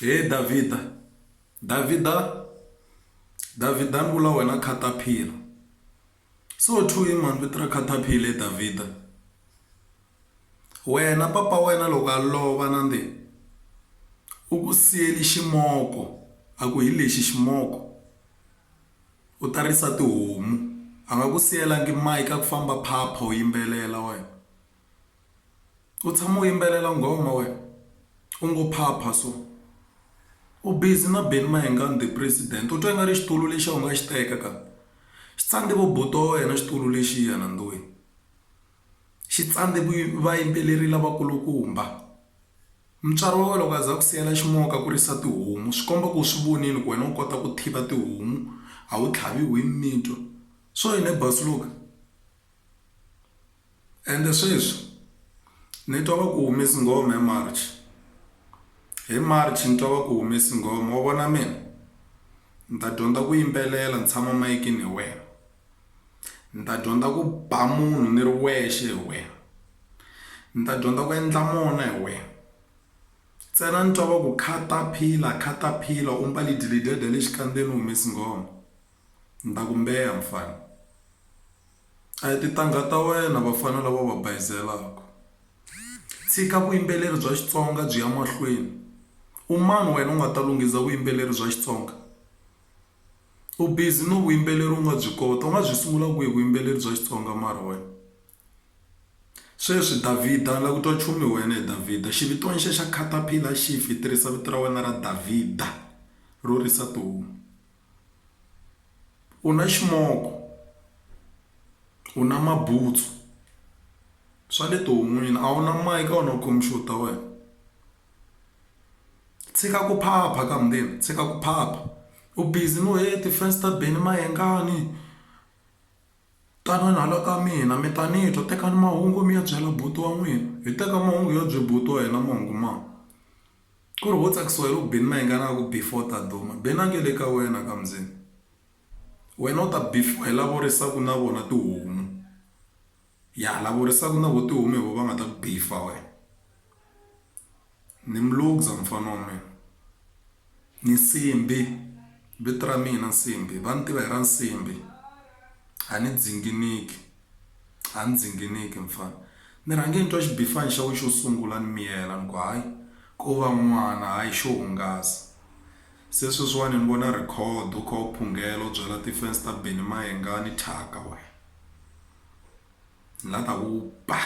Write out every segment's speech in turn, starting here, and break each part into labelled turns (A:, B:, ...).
A: he davhida davhida davhida ni vula wena khataphila so to him mani vito ra khataphila he davhida wena papa wena loko a lova na ndi u ku siyeli ximoko a ku hi lexi ximoko u ta risa tihomu a nga ku siyelangi mike a ku famba phapha u yimbelela wena. u tshama u yimbelela nghoma wena u ngo phapha so u busy na Benny Mayengani the president u twa ingari xitulu lexiya u nga xi teka ka xi tsandze vo buti wa wena xitulu lexiya nandzu wini xi tsandze vayimbeleri lavakulukumba mutswari wa wena loko a za ku siyela ximoka a kurisa tihomu swi komba ku swi vonile ku wena u kota ku tiva tihomu a wu tlhavi wini mitwa so yini boss Luka. Ende sweswi ni twa va ku humesi nghoma hi March hi March ni twa va ku humesi nghoma wa vona mina ni ta dyondza ku yimbelela ni tshama mayikini hi wena ni ta dyondza ku ba munhu ni ri wexe hi wena ni ta dyondza ku endla mona hi wena ntsena ni twa va ku khata phila khata phila u mbale dilidede le xikandzeni u humesi nghoma. Ni ta ku mbeya mfana. A hi tintangha ta wena vafana lava u va bayizelaka. Tshika vuyimbeleri bya Xitsonga byi ya mahlweni. U mani wena u nga ta lunghisa vuyimbeleri bya Xitsonga? U busy no vuyimbeleri u nga byi kota, u nga byi sungula kwihi vuyimbeleri bya Xitsonga mara wena? Sweswi Davhida ni lava ku twa nchumu hi wena he Davhida. Xivitiwa ni xexo caterpillar xi fi, tirhisa vito ra wena ra Davhida ro risa tihomu. u na ximoko u na mabutsu swa le tihon'wini a wu na mic a wu na computer ta wena tshika ku phapha ka mundeni tshika ku phapha u busy no he ti-fans ta beni mayengani tanani hala ka mina mi ta ni twa tekani mahungu mi ya byela buti wa n'wina hi teka mahungu hi ya bye buti wa hina mahungu ma. Ku ri ho tsakisiwa hi loko Benny na yingana a ku, Before ta duma. Benny a nge le ka wena ka Mzini. Wena u ta before hi lavo risaku na vona tihomu. Ya lavo risaku na vo tihomu hi vo va nga ta ku before wena. Ni mi lukza mufana wa mina. Ni nsimbhi. Vito ra mina Nsimbhi. Va ni tiva hi ra Nsimbhi. A ni dzinginiki. A ni dzinginiki mfana. Ni rhange ni twa xibifani xa we xo sungula ni miyela ni ku hayi ko va n'wana hayi xo hungasa. Se sweswiwani ni vona record u kha u phunghela u byela ti-fans ta Benny Mayengani thyaka wena. Ni la ta ku ba!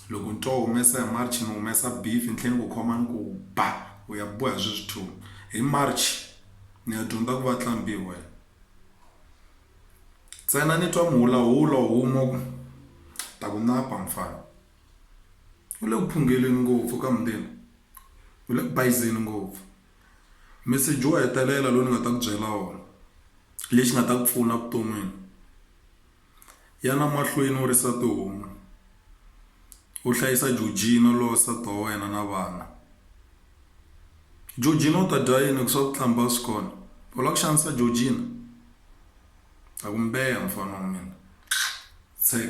A: Loko ni twa u humesa hi March ni humesa beef ni tlhe ni ku khoma ni ku ba! U ya boha sweswi two hi March ni ya dyondza ku va Tlambiwe. Ntsena ni twa muhulahulo wu huma ku, Ta ku napa mfana. U le ku phungeleni ngopfu ka mundeni. U le ku bayizeni ngopfu. Meseji wo hetelela lowu ni nga ta ku byela wona, lexi nga ta ku pfuna evuton'wini. Yana mahlweni u ri nsati un'we. U hlayisa Jojina lowa nsati wa wena na vana. Jojina u ta dya yini hikuva swakuhlamba a swi kona? U lava ku xanisa Jojina? A ku mbeha mfana wa mina. Tshek.